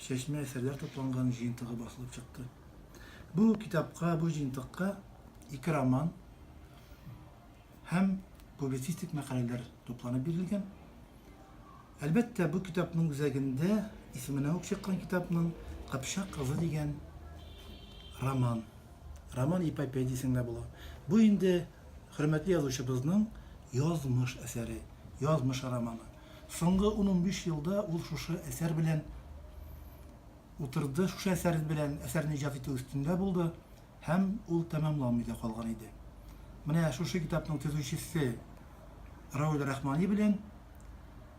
чәчмә әсәрләр тупланган җыентыгы басылып чыкты. Бу китапка, бу җыентыкка ике роман һәм публицистик мәкаләләр тупланып бирелгән. Әлбәттә, бу китапның үзәгендә исеменә үк чыккан китапның Кыпчак кызы дигән роман. Роман эпопея дисең дә була. Бу инде хөрмәтле язучыбызның язмыш әсәре, язмыш романы. Соңгы ун-унбиш елда ул шушы әсәр белән утырды, шушы әсәр белән әсәрне иҗат итү өстендә булды һәм ул тәмамланмый да калган иде. Менә шушы китапның төзүчесе Равил Рахмани белән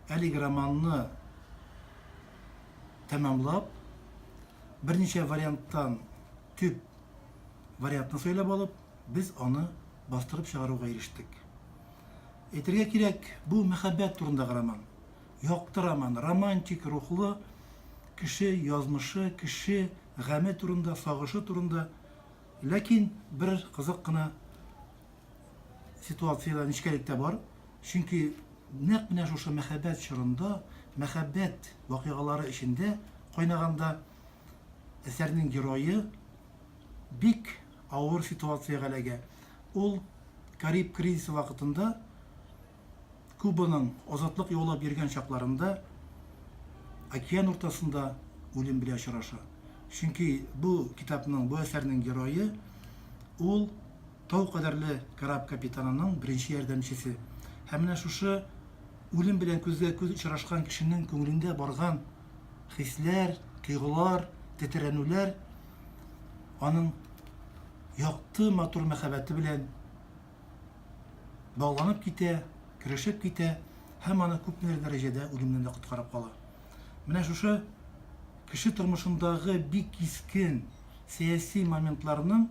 әлеге романны тәмамлап, берничә варианттан төп вариантны сайлап алып, без аны бастырып чыгаруга ирештек. Әйтергә кирәк, бу мәхәббәт турындагы роман. Якты роман, романтик рухлы, кеше язмышы, кеше гаме турында, сагышы турында. Ләкин бер кызык кына ситуациядә нечкәлек тә бар. Чөнки нәкъ менә шушы мәхәббәт чорында, мәхәббәт вакыйгалары эчендә кайнаганда әсәрнең герое бик Авыр ситуациягә эләгә. Ул Кариб кризисы вакытында Кубаның азатлык яулап йөргән чакларында океан уртасында үлем белән очраша. Чөнки бу китапның, бу әсәрнең герое, ул тау кадәрле кораб капитанының беренче ярдәмчесе. Һәм менә шушы үлем белән күзгә-күз очрашкан кешенең күңелендә барган хисләр, тойгылар, тетрәнүләр, аның якты, матур мәхәббәте белән багланып китә, керешеп китә һәм аны күпмедер дәрәҗәдә үлемнән дә коткарып кала. Менә шушы кеше тормышындагы бик кискен сәяси моментларның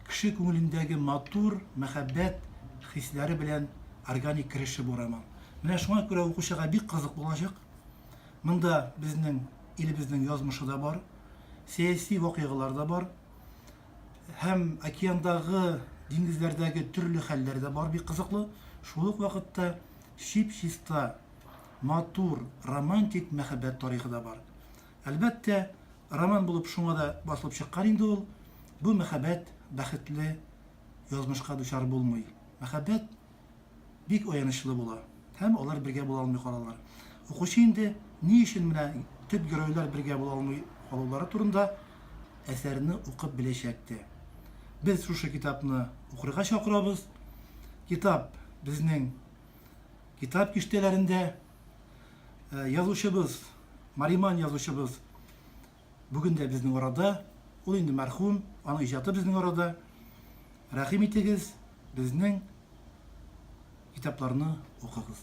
кеше күңелендәге матур, мәхәббәт хисләре белән органик кереше бу роман. Менә шуңа күрә укучыга бик кызык булачак. Монда безнең илебезнең язмышы да бар, сәяси вакыйгалар да бар. Һәм океандагы, диңгезләрдәге төрле хәлләр дә бар, бик кызыклы. Шул ук вакытта чип-чиста, матур, романтик мәхәббәт тарихы да бар. Әлбәттә, роман булып шуңа да басылып чыккан инде ул. Бу мәхәббәт бәхетле язмышка дучар булмый. Мәхәббәт бик аянычлы була һәм алар бергә була алмый калалар. Укучы инде ни өчен менә төп геройлар бергә була алмый калулары турында әсәрне укып беләчәк тә. Без шушы китапны укырга чакырабыз. Китап безнең китап киштәләрендә э, язучыбыз, Мариман язучыбыз Бүген дә безнең арада, ул инде мәрхүм, аның иҗаты безнең арада. Рәхим итегез, безнең китапларны укыгыз.